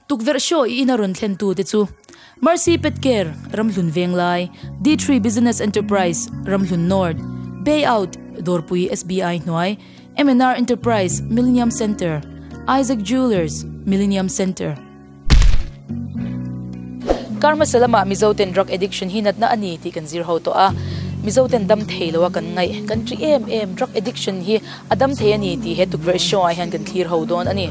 Tukverh show i in a rawn thlen tu te chu Mercy Pet Care, Ramhlun Venglai, D three Business Enterprise, Ramhlun North, Bay Out, Dawrpui SBI hnuai, MNR Enterprise, Millennium Centre, Isaac Jewellers, Millennium Centre. Kar hmasa lamah Mizo ten drug addiction hi natna a ni tih kan zir ho tawh a, Mizo ten dam thei loa kan ngaih, kan ṭih em em, drug addiction hi A dam thei a ni tih he tukverh show ah hian kan thlir ho dawn a ni.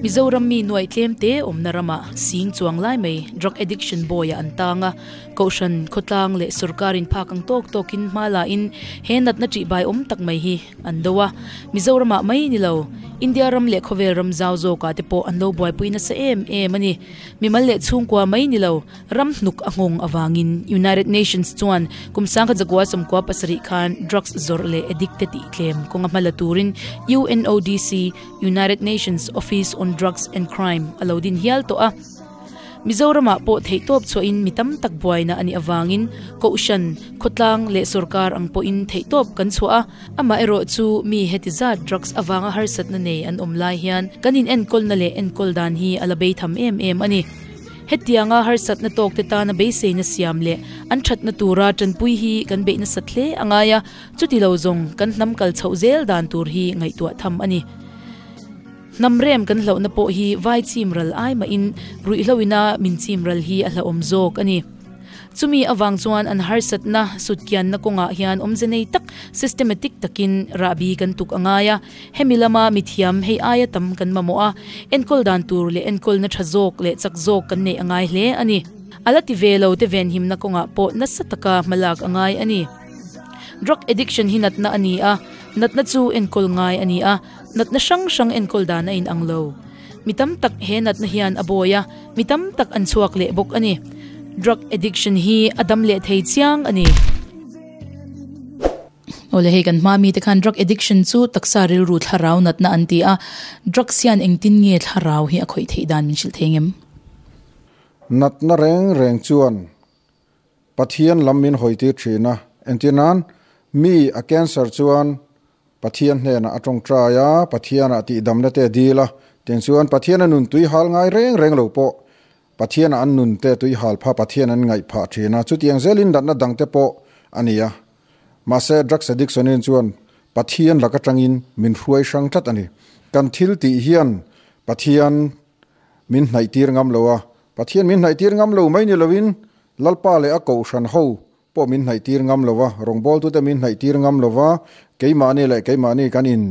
Mizoram mi nuai tlem te awmna ram ah sing chuang lai mai drug addiction bawi ah an tang a. Kohhran, khawtlang leh sorkar in phak ang tawk tawk in hma la in he natna tih bai awm tak mai hi an do a. Mizoram ah mai ni lo, India ram leh khawvel ram zau zawk ah te pawh an lo buaipui nasa em em a ni. Mimal leh chhungkua mai ni lo, ram hnuk a nghawng avangin United Nations chuan kum sangkhat zakua sawmkua pasarih khan drugs zawrh leh addicted tih tlem kawnga hma la turin UNODC, United Nations Office on Drugs and Crime, a lo din hial tawh a. Mizoramah pawh theihtawp chhuahin mi tam tak buaina a nih avangin Kohhran, Khawtlang leh sawrkar ang pawhin theihtawp kan chhuah a. Amaherawh chu mi heti zat drugs avanga harsatna nei an awm lai hian kan inenkawnna leh enkawl dan hi a la beitham em em a ni. Hetianga harsatna tawkte tana beiseina siam leh an thatna tura tanpui hi kan beih nasat hle a ngai a, chuti lo zawng kan hnam kal chhoh zel dan tur hi ngaihtuah tham a ni. Hnam rem kan hlauhna pawh hi vai chimral ai mahin ruihhlauhina min chimral hi a hlauhawm zawk a ni. Chumi avang chuan an harsatna sutkianna kawngah hian awmze nei tak, systematic takin rah bi kan tuk a ngai a. Hemi lama mithiam hei aia tam kan mamawh a, enkawl dan tur leh enkawlna tha zawk leh chak zawk kan neih a ngai hle a ni. A la ti ve lo te venhimna kawngah pawh nasa taka hma lak a ngai a ni. Drug addiction hi natna a ni a, natna chu enkawl ngai a ni a, natna hrang hrang enkawl dan a inang lo. Mi tam tak he natna hian a bawi a, mi tam tak an chhuak leh bawk a ni. Drug addiction hi a dam leh thei chiang a ni. Awle hei kan hmaa mite khan drug addiction chu taksa rilru thlarau natna an ti a. Drugs hian engtin nge thlarau hi a khawih theih dan min hrilh thei ang em? Natna reng reng chuan Pathian lam min hawitir thin a, engtin an mi a cancer chuan Pathian hnenah a ṭawngṭai a, Pathianah tihdamna te dil a, tinchuan Pathiana nun tuihal ngai reng reng lo pawh Pathiana an nun te tuihal pha Pathian an ngaih phah ṭhin a, chutiang zel in datna dang te pawh a ni a. Mahse, drugs addiction in chuan Pathian lak aṭangin min hruai hrang tlat a ni. Kan thil tih hian Pathian min hnaihtir ngam lo a, Pathian min hnaihtir ngam lo mai ni loin Lalpa leh a Kohhran ho pawh min hnaihtir ngam lo va, rawngbawltute min hnaihtir ngam lo va, keimahni leh keimahni kan in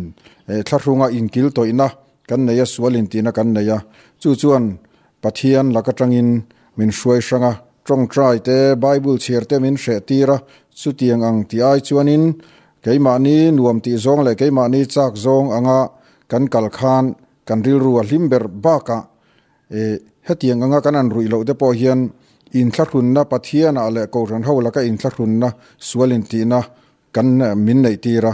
eh thlahrunga inkiltawihna kan nei a, sualin tihna kan nei a, chu chuan Pathian lak atangin min hruai hrang a, tawngtai te, Bible chhiar te min hreh tir a, chutiang ang ti ai chuanin keimahni nuam tih zawng leh keimahni chak zawng anga kan kal khan kan rilru a hlim ber bakah E, hetiang anga kan an ruih loh te pawh hian inthlahrunna Pathianah leh Kohhran ho laka inthlahrunna sual intihna kan min neih tir a.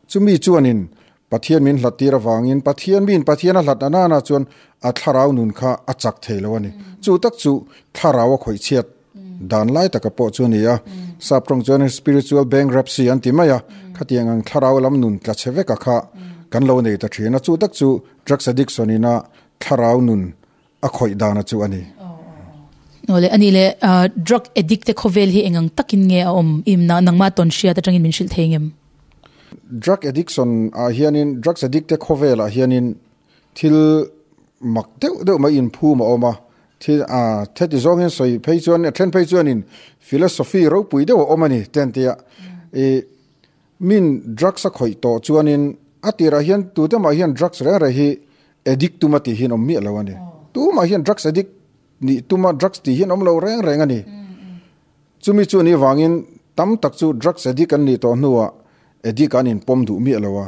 Chumi chuanin Pathian min hlat tir avangin Pathian miin Pathian a hlatna nana chuan a thlarau nun kha a chak thei lo a ni. Chu tak chu thlarau a khawih chhiat dan lai taka pawh chu a ni a. Sap tawng chuan spiritual bankruptcy an ti mai a, khatiang ang thlarau lam nun tla che veka kha kan lo nei ta thin a. Chu tak chu drugs addiction ina Thlarau nun a khawih dana chu a ni. Awle, a ni le. Drug addict te khawvel hi eng ang takin nge a awm? I imna nangma tawn hriat atangin min hrilh thei ngem? Drug addiction ah hianin, drugs addict te khawvel ah hianin thil mak deuh deuh mai inphum a awm a. Thil theti zawngin sawi phei chuan, a then phei chuanin philosophy ropui deuh a awm a ni, ten tia. I. Min drugs a khawih tawh chuanin a tirah hian tute mah hian drugs reng reng hi addict tuma tih hi an awm miah lo a ni. Tumah hian drugs addict nih tuma drugs tih hi an awm lo reng reng a ni. Chumi chu nih vangin tam tak chu drugs addict an nih tawh hnuah addict an in pawm duh miah lo a.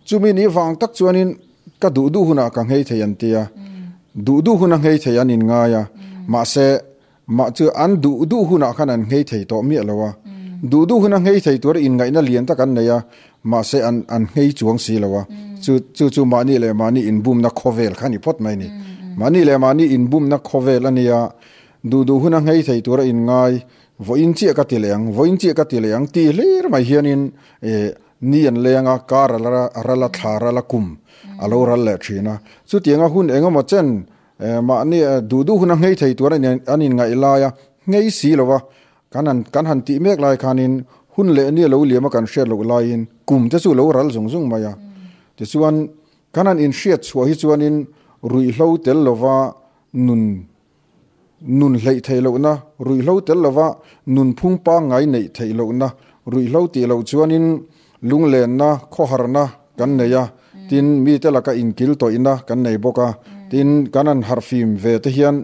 Chumi nih vang tak chuanin ka duh duh hunah ka nghei thei an ti a. Duh duh huna nghei thei an in ngai a. Mahse Mah chu an duh duh hunah khan an nghei thei tawh miah lo a, duh duh huna nghei thei tur inngaihna lian tak an nei a, mahse an an nghei chuang si lo a, chu chu chu mahni leh mahni inbumna khawvel kha ni phawt mai a ni. Mahni leh mahni inbumna khawvel a nia duh duh huna nghei thei tura inngai vawiin chiah ka ti leh ang, vawiin chiah ka ti leh ang tih hlir mai hianin ni an leng a, car a la ra, a ral a, thla a ral a, kum a lo ral leh thin a. Chutianga hun engemaw chen Eh, mahni eh, duhduh huna ngei thei tur an in, an in ngaih lai a, ngei si lo a, kan han, kan han tih mek lai khanin hun leh nia lo liam a kan hriat loh laiin kum te chu lo ral zung zung mai a. Tichuan kan han in hriat chhuah hi chuanin ruih hlo tel lova nun nun hleih theih lohna, ruih hlo tel lova nun phung pangngai neih theih lohna, ruih hlo tih loh chuanin Lunglenna, khawharna kan nei a, tin, mite laka inkiltawihna kan nei bawk a. Tin, kan han harh fim ve te hian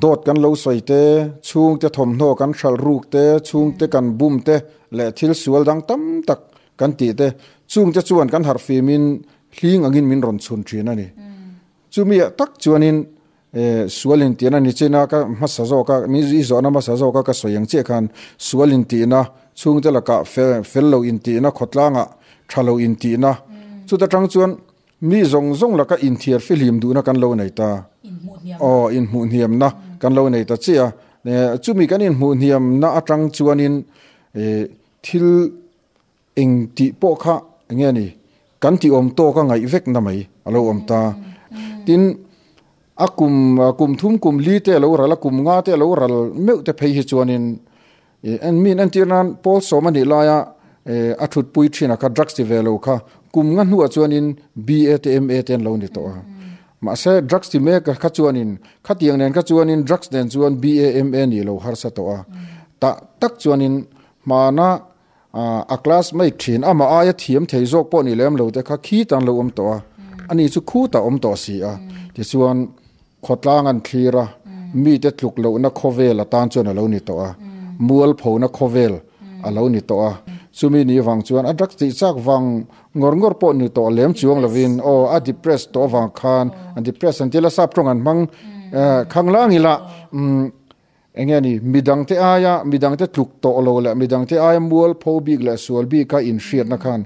dawt kan lo sawi te, chhungte thawmhnaw kan hralh ruk te, chhungte kan bum te leh thil sual dang tam tak kan tih te, chungte chuan kan harh fimin hling angin min rawn chhun thin a ni. Chumi ah tak chuanin Eh, sual in tihna ni chin a, ka hmasa zawk a, min zui zawhna hmasa zawk a ka sawi ang chiah khan sual in tihna, chhungte laka fel fel lo in tihna, khawtlanga tha lo in tihna, chuta tang chuan mi zawng zawng laka inthiar fihlim duhna kan lo nei ta. Aw, inhmuhniamna kan lo nei ta chiah a, eh, chumi kan inhmuhniamna atang chuanin eh, thil Eng tih pawh kha enge ni kan ti awm tawk a ngaih vek na mai a lo awm ta. Tin, a kum kum thum kum li te a lo ral a, kum nga te a lo ral meuh te phei hi chuanin en min entir nan Paul Sawma nih laia a thutpui thinah kha drugs ti ve lo kha kum nga hnuah chuanin BA te MA te an lo ni tawh a. Mahse, drugs ti mek kha chuanin khatiang nen kha chuanin drugs nen chuan BA MA ni lo harsa tawh a. Tah tak chuanin hmana A classmate thin ama aia thiam thei zawk pawh ni lem lo te kha khit an lo awm tawh a, ani chu khutah awm tawh a si a. Tichuan khawtlang an thlir a, mite tluk lohna khawvel atan chuan a lo ni tawh a, mual phona khawvel a lo ni tawh a. Chumi ni vang chuan a drug tih chak vang ngawr ngawr pawh ni tawh lem chuang lovin aw a depress tawh avang khan depress an ti lasap tawng an hmang khanglang ila. Eng nge ni? Midangte aia, midangte tluk tawh lo leh midangte aia mual pho bik leh sual bika inhriatna khan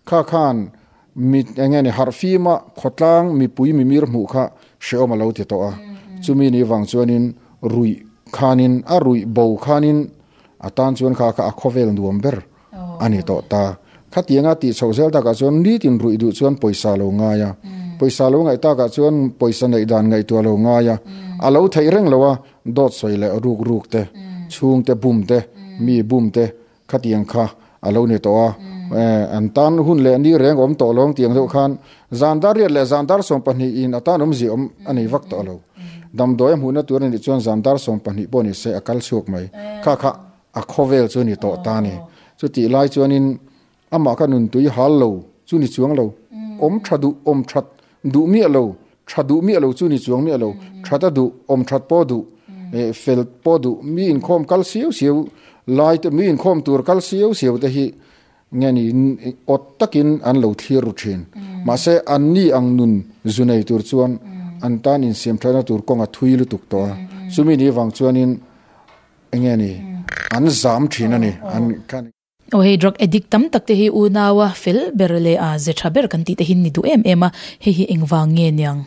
kha khan mi eng nge ni? Harh fima khawtlang mipui mimir hmuh kha hrehawm a lo ti tawh a. Chumi ni vang chuanin ruih khanin a ruih bo khanin atan chuan kha kha a khawvel nuam ber. A ni tawh ta. Khatianga tih chhoh zel takah chuan nitin ruih duh chuan pawisa lo ngai a. Pawisa lo ngaih takah chuan pawisa neih dan ngaihtuah lo ngai a. A lo theih reng lo a, dawt sawi leh ruk ruk te, chhungte bum te, mi bum te khatiang kha a lo ni tawh a. An tan hun leh ni reng awm tawh lawng tiang deuh khan zan dar riat leh zan dar sawm pahnih in a tan awm zia awm a nei vak tawh lo. Damdawi a hmuhna tur a nih chuan zan dar sawm pahnih pawh ni se a kal chhuak mai. Kha kha A khawvel chu ni tawh ta ni. Chutih lai chuanin amah ka nun tui hal lo chu ni chuang lo. Awm tha duh, awm that duh miah lo, tha duh miah lo chu ni chuang miah lo. That a duh, awm that pawh duh, fel pawh duh, mi inkhawm kal siau siau lai te, mi inkhawm tur kal siau siau te hi nge ni awt takin an lo thlir ru thin. Mahse an ni ang nun zu nei tur chuan an tan insiam thatna tur kawnga thui lutuk tawh a. Chumi ni vang chuanin Enge ni? An zam thin a ni. An. Aw hei drug addict tam tak te hi unau a fel ber leh a ze tha ber kan tih te hin ni duh em em a, hei hi engvang nge niang?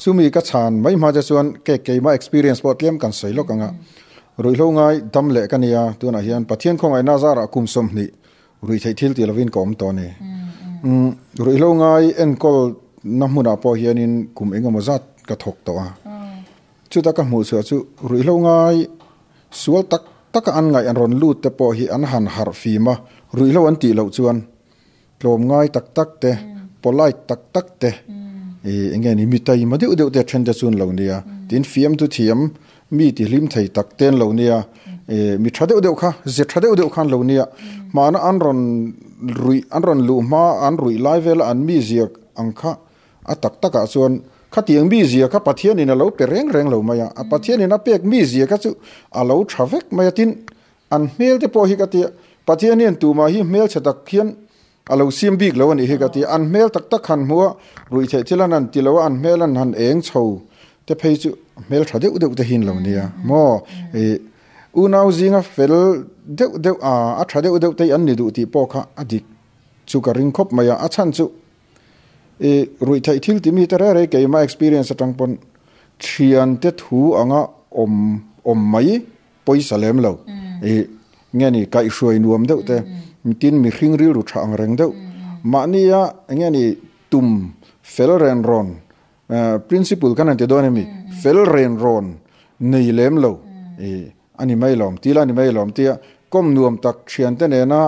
Chumi ka chhan mai hma che chuan kek keima experience pawh tliam kan sawi lawk anga ruihhlo ngai dam leh ka nia tunah hian Pathian khawngaihna zarah kum sawm hnih ruih theih thil ti lovin ka awm tawh a ni. Umm ruihhlo ngai enkawl na hmunah pawh hianin kum engemaw zat ka thawk tawh a. Chuta ka hmuh chhuah chu ruihhlo ngai sual tak taka an ngaih an rawn lut te pawh hi an han harh fim a, ruihhlo an tih loh chuan tlawm ngai tak tak te, polite tak tak te, eng nge ni mi taima deuh deuh te a then te chu an lo nia, tin fiamtu thiam mi ti hlim thei tak te an lo nia, mi tha deuh deuh kha, ze tha deuh deuh kha an lo nia, hmana an rawn ruih an rawn luh hma an ruih lai vela an mi ziak ang kha A tak takah chuan, Khatiang mizia kha Pathianin a lo pe reng reng lo mai a, a Pathianin a pek mizia kha chu a lo tha vek mai a. Tin, an hmelte pawh hi ka ti a, Pathian hian tumah hi hmelchhe tak hian a lo siam bik lo a nih hi ka ti a. An hmel tak tak han hmu a, ruih theih thil an han ti lo a, an hmel an han eng chho te phei chu hmel tha deuh deuh te hi'n lo nia maw i? Unau zinga fel deuh deuh a, a tha deuh deuh te hi an ni duh tih pawh kha a dik chu ka ring khawp mai a, a chhan chu. I ruih theih thil timi te rei rei keima experience atang pawn thian te thu anga awm awm mai pawisa lem lo I nge ni kaih hruai nuam deuh te tin mihring rilru tha ang reng deuh mahnia nge ni tum fel ren rawn Principle kan han ti dawn em ni? Fel ren rawn nei lem lo i a ni mai lawm ti ila ni mai lawm tia kawm nuam tak thiante nena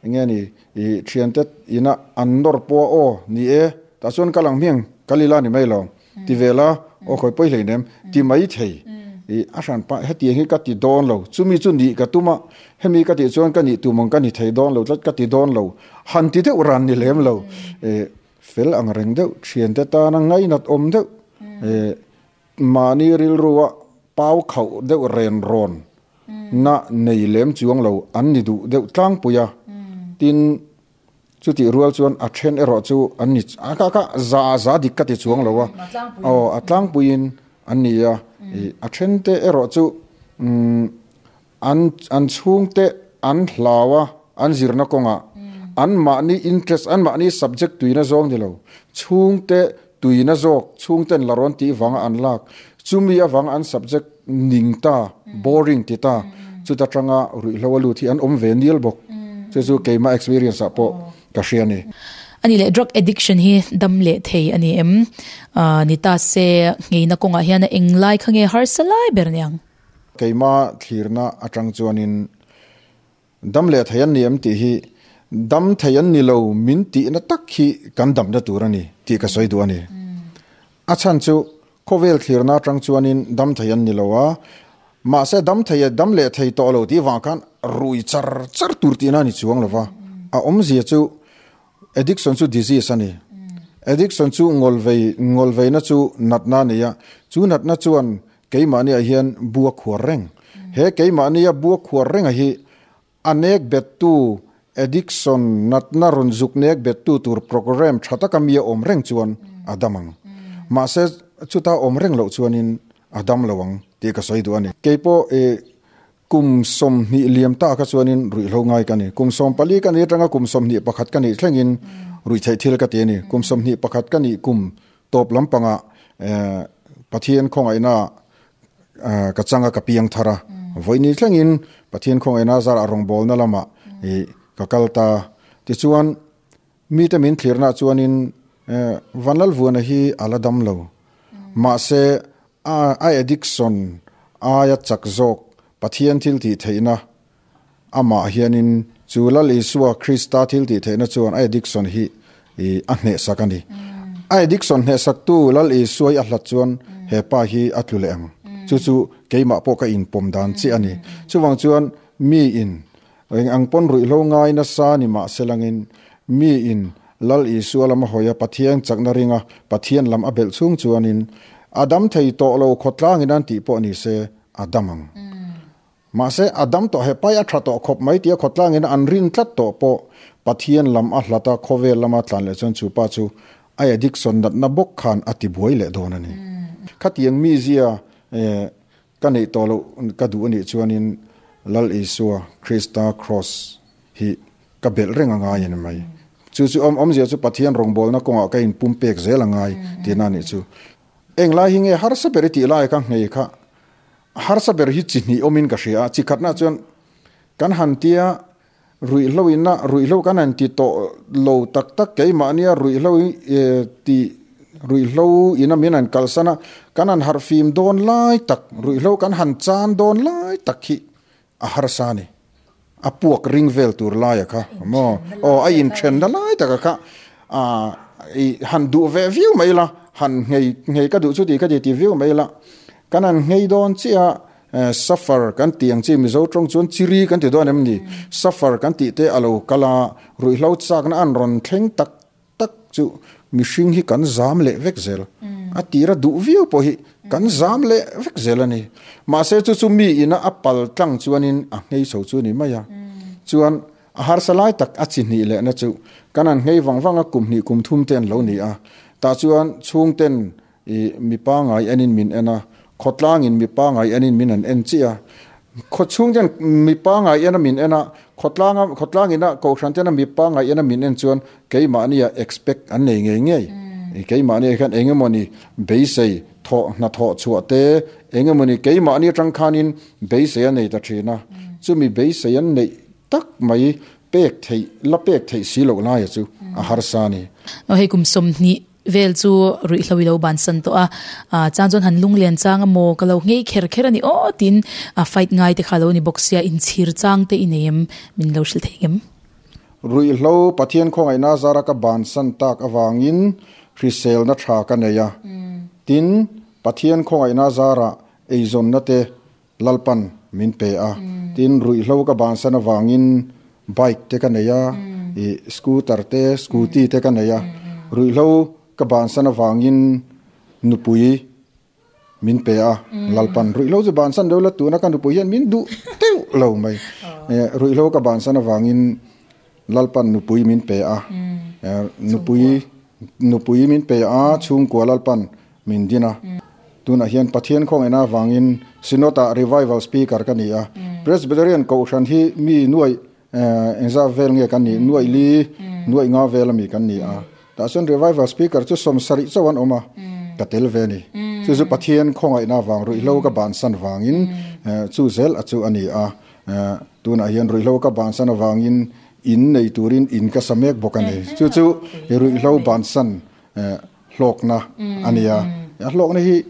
enge ni i thiante ina an nawr pawh aw ni e tah chuan ka lang hmiang kal ila ni mai lawm ti vela aw khawi pawi hlei nem ti mai thei i a hran pah hetiang hi ka ti dawn lo chumi chu nih ka tum a hemi ka tih chuan ka nih tumawng ka ni thei dawn lo tlat ka ti dawn lo han ti deuh ran ni lem lo e Fel ang reng deuh thiante tana ngainat awm deuh eh mahni rilrua pau khauh deuh ren rawn na nei lem chuang lo an ni duh deuh tlangpui a, tin chutih rual chuan a then erawh chu an ni a kah kah za za dik ka ti chuang lo a aw a tlangpuiin an ni a, a thente erawh chu umm. An an chhungte an hlau a, an zirna kawnga anmahni interest, anmahni subject tuina zawng ni lo. Chhungte tuina zawk, chhungten la rawn tih vanga an lak. Chumi avanga an subject ning ta, boring ti ta, chuta tanga ruihhlo a lut hi an awm ve nial bawk. Chu chu keimah experience ah pawh ka hria ni. A ni leh, drug addiction hi dam leh thei a ni em? Ni ta se, ngeina kawngah hian a eng lai kha nge harsa lai ber niang. Keima thlirna atang chuanin dam leh thei an ni em tih hi dam thei an ni lo min tihna tak hi kan damna tur a ni tih ka sawi duh a ni. A chhan chu khawvel thlirna atang chuanin dam thei an ni lo a, mahse dam thei e dam leh thei tawh lo tih vang khan rui char char tur tihna a ni chuang lo va. A awmzia chu addiction chu disease a ni. Addiction chu ngawlvei ngawlveina chu natna a ni a, chu natna chuan Keimahniah hian bua khuar reng. He keimahnia bua khuar renga hi a nek bettu, addiction, natna rawn zuk nek bettu tur programme tha taka mi a awm reng chuan a dam ang. Mahse, chuta awm reng loh chuanin a dam lo ang tih ka sawi duh a ni. Keipawh i kum sawmhnih liam ta kha chuanin ruihhlo ngai ka ni. Kum sawm pali ka nih atanga kum sawmhnih pakhat ka nih thlengin ruihtheih thil ka ti a ni. Kum sawmhnih pakhat ka nih kum Tawp lampanga Pathian khawngaihnaah ka changa ka piang thar a, vawinih thlengin Pathian khawngaihna zara rawngbawlna lamah i ka kal ta. Tichuan, mite min thlirnah chuanin Van Lalvuana hi a la dam lo. Mahse, a addiction aia chak zawk Pathian thil tih theihna Amah hianin, chu Lal Isua Krista thiltihtheihna chuan a addiction hi a hnehsak a ni. A addiction hnehsaktu Lal Isua-i a hlat chuan he pa hi a tlu leh ang. Chu chu keimah pawh ka inpawm dan chiah a ni. Chuvang chuan, mi in eng ang pawn ruihhlo ngai nasa ni mah se langin, mi in Lal Isua lam a hawi a, Pathian chakna ringa Pathian lam a belh chhung chuanin, a dam thei tawh lo khawtlangin an tih pawh ni se, a dam ang. Mahse, a dam tawh he pai a tha tawh khawp mai tia khawtlangin an rin tlat tawh pawh Pathian lam a hlat a, khawvel lam a tlan leh chuan chu pa chu a addiction natna bawk khan a ti buai leh dawn a ni. Khatiang mizia ka neih tawh loh ka duh anih chuanin Lal Isua Krista Kraws hi ka belh reng a ngai a ni mai. Chu chu awm awmzia chu Pathian rawngbawlna kawngah ka in pumpek zel a ngai tina nih chu. Englai hi nge harsa ber i tih lai ka nghei kha A harsa ber hi chi hnih awmin ka hria a, chi khatna chuan kan han tia ruihhlo ina ruihhlo kan han ti tawh lo tak tak keimahnia ruihhlo tih ruihhlo ina min han kalsan a, kan han harh fim dawn lai tak ruihhlo kan han chan dawn lai tak khi A harsa a ni. A puak ring vel tur laia kha maw? Aw a inthen na lai taka kha aah han duh ve viau mai la, han nghei nghei ka duh chu tih ka ti ti viau mai la. Kan han nghei dawn chiah a, Suffer kan tih ang chi Mizo tawng chuan Chiri kan ti dawn em ni? Suffer kan tih te a lo kal a, ruihhlo chakna a rawn thleng tak tak chu mihring hi kan zam leh vek zel a tira duh viau pawh hi kan zam leh vek zel a ni mahse chu chu mi ina a pal tlang chuanin a nghei chho chu a ni mai a chuan a harsa lai tak a chi hnih leh na chu kan an nghei vang vang a kum hnih kum thum te an lo ni a tah chuan chhungten I mi pangai enin min en a, khawtlangin mi pangai enin min han en chiah a. Khaw chhung ten mi pangai ena min en a, khawtlanga khawtlangina kohhran tena mi pangai ena min en chuan keimahnia expect an nei ngei ngei. I keimahnia hian eng emawni beisei thawh hnathawh chhuah te, eng emawni keimahni atang khanin beisei a nei ta thin a, chumi beisei an neih tak mai pek theih la pek theih si loh laia chu a harsa a ni. Hei kum sawmhnih vel chu ruihhlo ilo bansan tawh a, ah chang chuan han lunglen chang a maw ka lo nghei kher kher a ni aw tiin a fight ngai te kha alo ni bawk sia inchhir chang te i nei em min lo hrilh theih ngem. Ruihhlo Pathian khawngaihna zara ka bansan tak avangin hriselna tha ka nei a, tin Pathian khawngaihna zarah eizawnna te Lalpan min pe a, tin ruihhlo ka bansan avangin bike te ka nei a, ih scooter te, scooty te ka nei a, ruihhlo ka bansan avangin nupui min pe a, Lalpan ruihhlo chu bansan deuh la tuna ka nupui hian min duh teuh lo mai, ruihhlo ka bansan avangin Lalpan nupui min pe a, nupui nupui min pe a, chhungkua Lalpan min din a. Tunah hian Pathian khawngin avangin Synod ah Revival Speaker ka ni a. Presbyterian Kohhran hi mi nuaih engzat vel nge kan ni? Nuaih li, nuaih nga vel a mi kan ni a. Tahchuan Revival Speaker chu sawmsa rih chauh an awm a, ka tel ve a ni. Chu chu Pathian khawngaihna vang ruihhlo ka bansan vangin chu zel a chu a ni a. Tunah hian ruihhlo ka bansan avangin in nei turin in ka sa mek bawk a ni. Chu chu i ruihhlo bansan hlawkna a nia. A hlawkna hi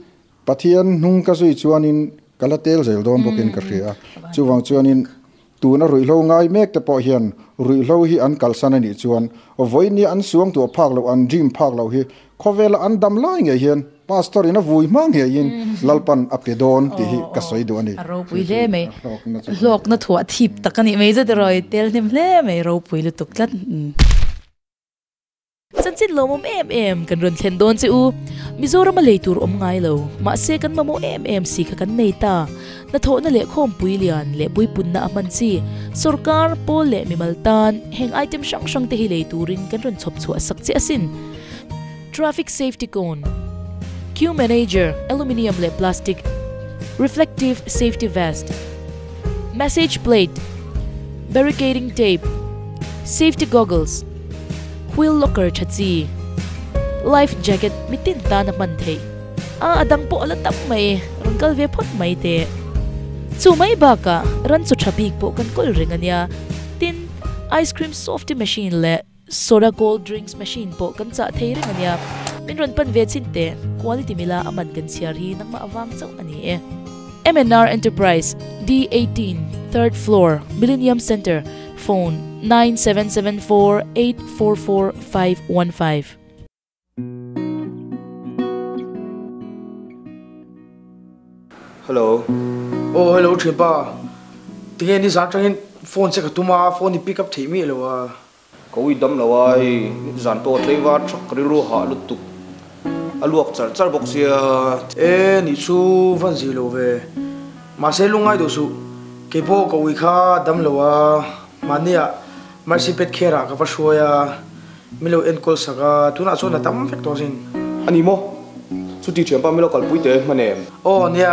Pathian hnung ka zui chuanin ka la tel zel dawn bawkin ka hria. Chuvang chuanin tuna ruihhlo ngai mek te pawh hian ruihhlo hi an kalsan a nih chuan vawinia an suang tawh phak loh, an dream phak loh hi Khawvela an dam lai ngei hian Pastor in a vui hma ngeiin Lalpan a pe dawn tih hi ka sawi duh a ni. A ropui hle mai. Hlawkna thu a thip tak a nih mai zet eraw i tel hnem hle mai, ropui lutuk tlat i. Chanchin lawmawm em em kan rawn thlen dawn che u. Mizoram a lei tur awm ngai lo, mahse kan mamawh em em si kha kan nei ta. Hnathawhna leh khawmpui lian leh puipunna a hman chi. Sorkar, Pawl leh mimal tan heng item hrang hrang te hi lei turin kan rawn chhawp chhuah sak che asin. Traffic Safety Cone Queue Manager Aluminium leh Plastic Reflective Safety Vest Message Plate Barricading Tape Safety Goggles Wheel Locker Tha chi Life Jacket mi tin tan a hman theih a a dang pawh a la tam mai rawn kal ve phawt mai teh chu mai bakah ranchu tha bik pawh kan kawl reng a nia tin Ice Cream Softy Machine leh Soda cold drinks machine pawh kan chah thei reng ania. Min rawn pan ve chin teh. Quality mila a man kan chhiar hi nangmah avang chauh ani e. MNR Enterprise, D eighteen, third floor, Millennium Centre, phone, nine seven seven four eight four four five one five. Hello. Aw hello Thinpa. Tinge ni zan atangin phone che ka tum a, phone i pick up theih miah lo a. Ka ui dam lo a, hei zan pawh tlei var thak ka rilru hah lutuk a luak charh charh bawk sia. E nih chu van zih lo ve. Mahse lungngai duh suh, kei pawh ka ui kha a dam lo a, hmahniah Mercy Pet Care-ah ka va hruai a. Mi lo enkawl sak a, tunah chuan a tam vek tawh zin. A ni maw? Chuti thiam pah mi lo kalpui teh hman em? Aw nia,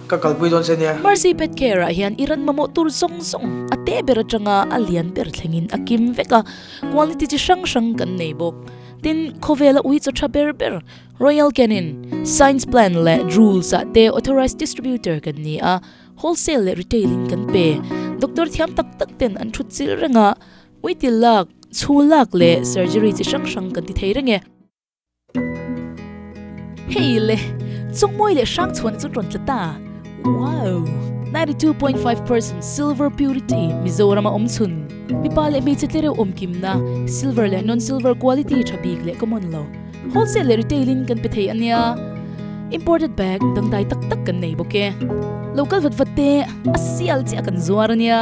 ka kalpui dawn se nia. Mercy pet care ah hian i ran mamawh tur zawng zawng a teh ber atanga a lian ber thlengin a kim vek a, quality chi hrang hrang kan nei bawk. Tin, khawvel a ui chaw tha ber ber. Royal Canin, Science Plan leh Drools ah te authorised distributor kan ni a, wholesale leh retail in kan pe. Doctor thiam tak tak ten an thut chilh reng a. Uitil lak, chhu lak leh surgery chi hrang hrang kan ti thei reng e. Hei le, chawngmawi leh hrang chhuahna chu tawn tla ta. Wow! Ninety two point five percent silver purity Mizoram a awm chhun. Mipa leh hmeichhe tlereuh awmkimna, silver leh non silver quality tha bik leh ka mawn lo. Wholesale leh retail in kan pe thei a nia. Imported bag dangdai tak tak kan nei bawk e. Local vat vat te a sial chiah kan zuar a nia.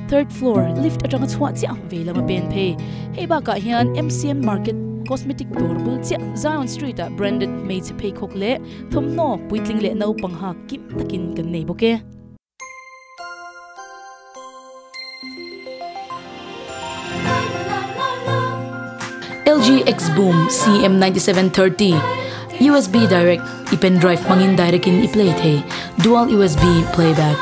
Third floor lift atanga chhuah chiah ve lova pen phei. Hei bakah hian MCM Market cosmetic dawr bul chiah Zion Street ah branded hmeichhe pheikhawk leh thawmhnaw puitling leh naupang hak kim takin kan nei bawk e. LG Xboom CM9730 USB direct i pendrive hmangin direct in i play thei dual USB playback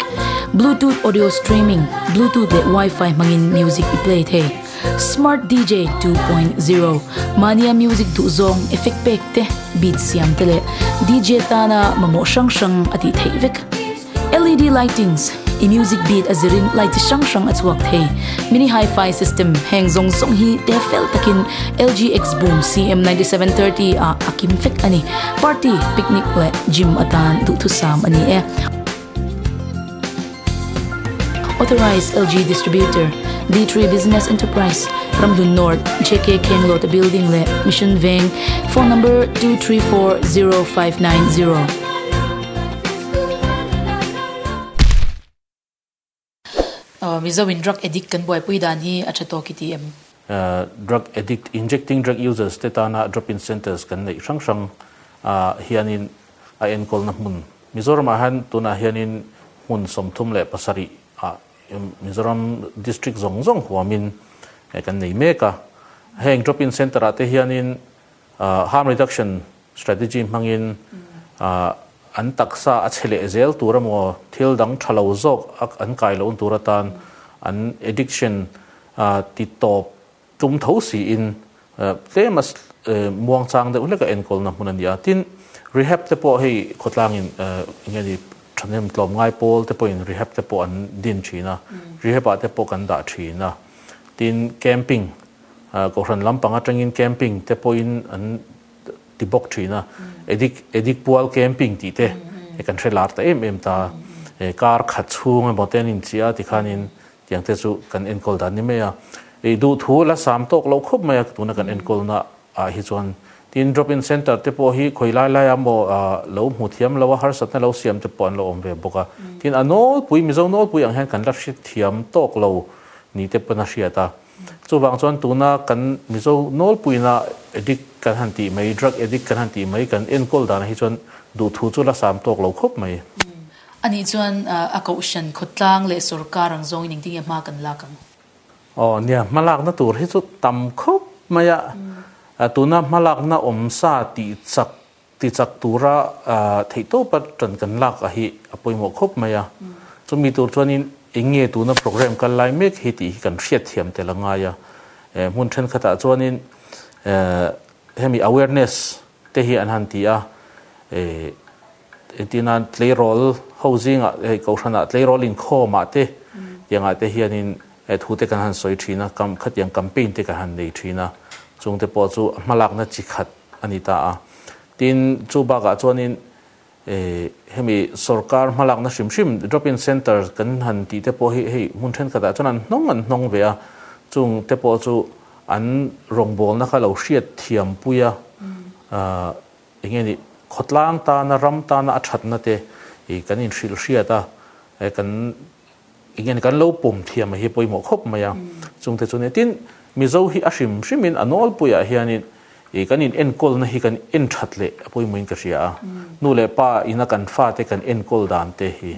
bluetooth audio streaming bluetooth leh wifi hmangin music i play thei smart dj 2.0 mania music duh zawng effect pack te beat siam te leh dj tana mamawh hrang hrang a tih theih vek LED lightings i music beat a zir in light chi hrang hrang a chhuak thei. Mini Hi-Fi system heng zawng zawng hi te fel tak in LG X Boom CM ninety seven thirty ah a kim fek a ni. Party, picnic leh gym atan duhthusam a ni e. Authorised LG Distributor, D three Business Enterprise, Ramhlun North, JK Khenglawta Building leh Mission Veng, Phone number two three four zero five nine zero. Mizo in drug addict kan buaipui dan hi a tha tawk i ti em? Drug addict, injecting drug users te tana drop in centres kan neih hrang hrang ah hianin a enkawlna hmun Mizoramah hian tunah hianin hmun sawmthum leh pasarih ah Mizoram district zawng zawng huamin kan nei mek a. Heng drop in centre ah te hianin Harm reduction strategy hmangin an taksa a chhe leh zel tur emaw, thil dang tha lo zawk an kai loh tur atan an addiction ti tawp tum tho siin tlem a muang chang deuh hlek a enkawlna hmun a ni a. Tin, rehab te pawh hei khawtlangin enge ni thahnem tlawm ngai pawl te pawhin rehab te pawh an din thin a, rehab ah te pawh kan dah thin a. Tin, camping Kohhran lampang atangin camping te pawhin an ti bawk thin a, edik edik pual camping tih te hi kan hre lar ta em em ta a, he car khat chhung emaw te an inchih a tikhanin tiang te chu kan enkawl dan ni mai a, ih duh thu la sam tawk loh khawp mai a tuna kan enkawl na ah hi chuan. Tin drop in centre te pawh hi khawi lai lai a maw ah lo hmu thiam lo a, harsatna lo siam te pawh an lo awm ve bawk a, tin a nawlpui Mizo nawlpui ang hian kan la hre thiam tawk lo ni te pawn a hriat a. Chuvang chuan tuna kan Mizo nawlpuina addict kan han tih mai, drug addict kan han tih mai, kan enkawl dan hi chuan duhthu chu la sam tawk lo khawp mai. Anih chuan a kohhran khawtlang leh sorkar ang zawngin engtin nge hma kan lak ang? Aw nia, hma lakna tur hi chu tam khawp mai a, tuna hma lakna awm sa tih chak Tichak tura theihtawp a tan kan lak a hi a pawimawh khawp mai a. Chumi tur chuanin eng nge tuna programme kal lai mek hi tih hi kan hriat thiam tel a ngai a. Hmun thenkhatah chuanin hemi awareness te hi an han ti a, engtin a tleirawl ho zingah, kohhranah tleirawl inkhawmah te tiangah te hianin, He thu te kan han sawi thin a, kam khatiang campaign te kan han nei thin a, chung te pawh chu a hmalakna chi khat a ni ta a. Tin, chu bakah chuanin eh hemi sorkar hmalakna hrim hrim drop in centre kan han tih te pawh hi hei hmun thenkhatah chuan an hnawng an hnawng ve a, chung te pawh chu an rawngbawlna kha lo hriat thiam pui a, ah eng nge ni khawtlang tana ram tana a thatna te ih kan inhrilh hriat a, eh kan. Engin kan lo pawm thiam a hi pawimawh khawp mai a, chung te chu nia. Tin, Mizo hi a hrim hrimin a nawlpuiah hianin ih kan in enkawlna hi kan en that leh a pawimawhin ka hria a. Nu leh pa in a kan fa te kan enkawl dan te hi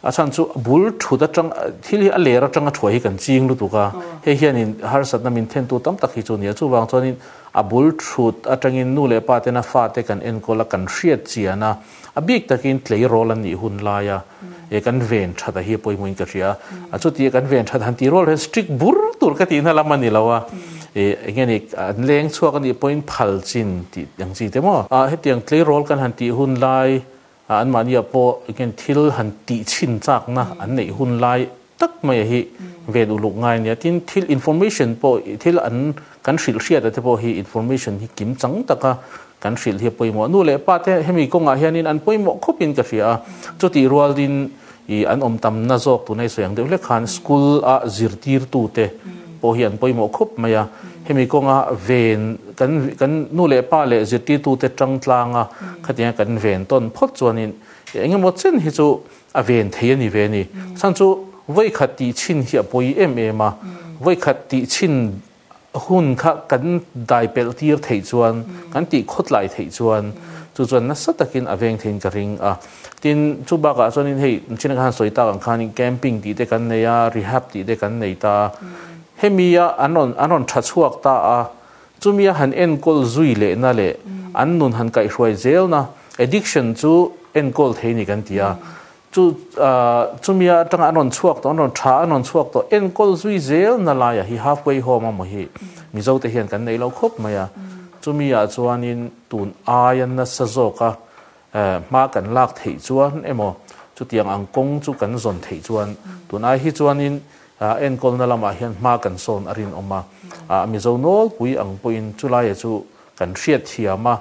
a chhan chu a bul thut atang, thil hi a ler atanga thuai hi kan ching lutuk a, hei hianin harsatna min thentu tam tak hi chu a nia. Chuvang chuanin a bul thut atangin nu leh pa ten a fa te kan enkawl a, kan hriat chian a, A bik takin tlei rawl an nih hun laia e kan ven that a hi pawimawhin ka hria a. Chuti e kan ven that han tih rawl hian strict bur tur ka tih na lam a ni lo a. E eng nge ni an leng chhuak a nih pawhin phal chin tih ang chi te maw? A hetiang tlei rawl kan han tih hun lai ah anmahni ah pawh eng nge ni thil han tih chhin chakna an neih hun lai tak maia hi ven uluk ngai a nia. Tin, thil information pawh, thil an kan hrilh hriata te pawh hi information hi kim chang taka kan hrilh hi a pawimawh. Nu leh pa te hemi kawngah hianin an pawimawh khawpin ka hria a. Chutih rualin ih an awm tam na zawk tuna i sawi ang deuh hle khan school a zirtirtute pawh hi an pawimawh khawp mai a. Hemi kawnga ven kan kan nu leh pa leh zirtirtute tangtlanga khatia kan ven tawn phawt chuanin eng emaw chen hi chu A ven thei a ni ve ni. Chhan chu vawikhat tih chin hi a pawi em em a. Vawikhat tih chin hun kha kan dai pelh tir theih chuan, kan tih khawtlai theih chuan, chu chuan nasa takin a veng theiin ka ring a. Tin, chu bakah chuanin hei China khan sawi tak ang khanin camping tih te kan nei a, rehab tih te kan nei ta a. Hemia an rawn an rawn tha chhuak ta a, Chumi a han enkawl zui lehna leh an nun han kaihhruai zelna, addiction, chu enkawl thei ni kan ti a. Chu chumi atanga an rawn chhuak tawh, an rawn tha, an rawn chhuak tawh enkawl zui zelna laiah hi halfway home a mawhi Mizote hian kan neih lo khawp mai a. Chumi ah chuanin tun aia nasa zawk a Hma kan lak theih chuan emaw, chutiang ang kawng chu kan zawn theih chuan tunai hi chuanin enkawlna lamah hian hma kan sawn a rinawm a. A Mizo nawlpui ang pawhin chu laia chu kan hriat thiam a,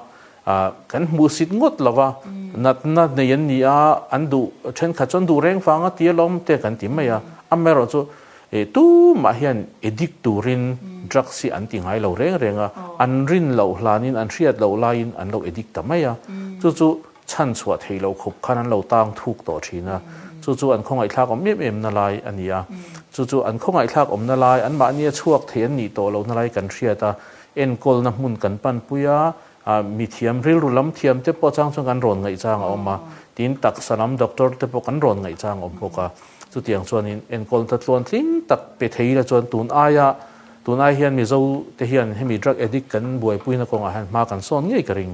kan hmuh sit ngawt lova natna nei an ni a, an duh thenkhat chuan duh reng fanga ti alawm te kan ti mai a, amaherawhchu E tumah hian addict turin drugs hi an ti ngai lo reng reng a, an rin loh hlanin an hriat loh laiin an lo addict ta mai a, chu chu chhan chhuah thei lo khup khan an lo tang thuk tawh thin a, chu chu an khawngaihthlak awm em em na lai a ni a, chu chu an khawngaihthlak awmna lai anmahnia chhuak thei an nih tawh lohna lai kan hriat a, enkawlna hmun kan panpui a, A mithiam rilru lam thiam te pawh chang chuan kan rawn ngaihchang a awm a, tin taksa lam doctor te pawh kan rawn ngaihchang awm bawk a. Chutiang chuanin enkawl hla tluan tling tak pe thei ila chuan tun aia, tun ai hian Mizo te hian hemi drug addict kan buaipuina kawngah hian hma kan sawn ngei ka ring.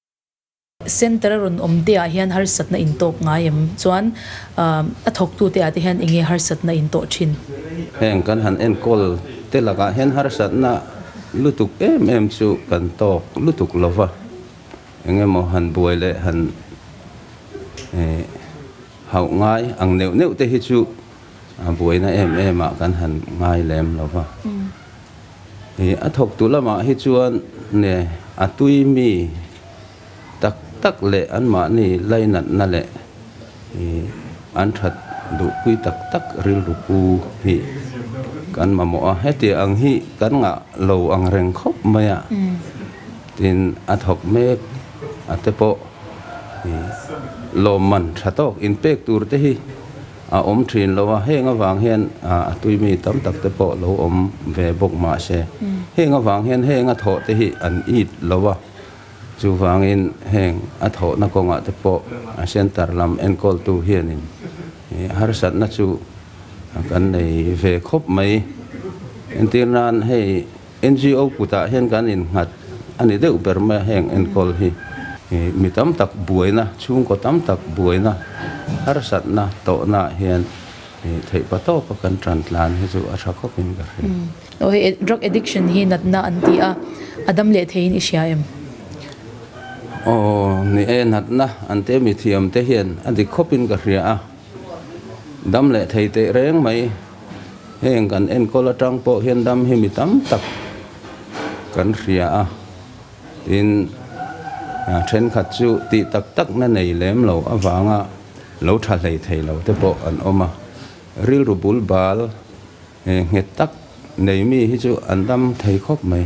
Centre a rawn awm teah hian harsatna intawp ngai em? Chuan a thawktu te ah te hian enge harsatna in tawh thin? Heng kan han enkawl te lakah hian harsatna lutuk em em chu kan tawk lutuk lo va, eng emaw han buai leh han hauh ngai ang neuh neuh te hi chu buaina em em ah kan han ngai lem lo va. A thawktu lamah hi chuan ne a tuimi tak tak leh an mahni lainatna leh an that duhpui tak tak rilru pu hi kan mamawh a, hetiang ang hi kan ngah lo ang reng khawp mai a, tin a thawk mek a te pawh lawmman tha tawk inpek tur te hi. a awm thin lo a, heng avang hian a tui mi tam tak te pawh lo awm ve bawk mah se, heng avang hian heng a thawh te hi an it lo a, chu vangin heng a thawh na kawngah te pawh a centre lam enkawl tu hian in harsat na chu kan nei ve khawp mai, entir nan hei. NGO kutah hian kan innghat a ni deuh ber mai a heng enkawl hi. Mi tam tak buaina, chhungkaw tam tak buaina, harsatna tawhnaah hian theih pa tawpa kan tan tlan hi chu a tha khawpin ka hre. Aw, drug addiction hi natna an ti a, a dam leh theiin i hria em? Aw, ni e, natna an ti a, mithiam te hian a dik khawpin ka hria a. Dam leh thei teh reng mai heng kan enkawl atang pawh hian dam hi mi tam tak kan hria a, tin thenkhat chu tih tak tak na nei lem lo avanga lo tha hlei thei lo te pawh an awm a, rilru bul bal nghet tak nei mi hi chu an dam thei khawp mai.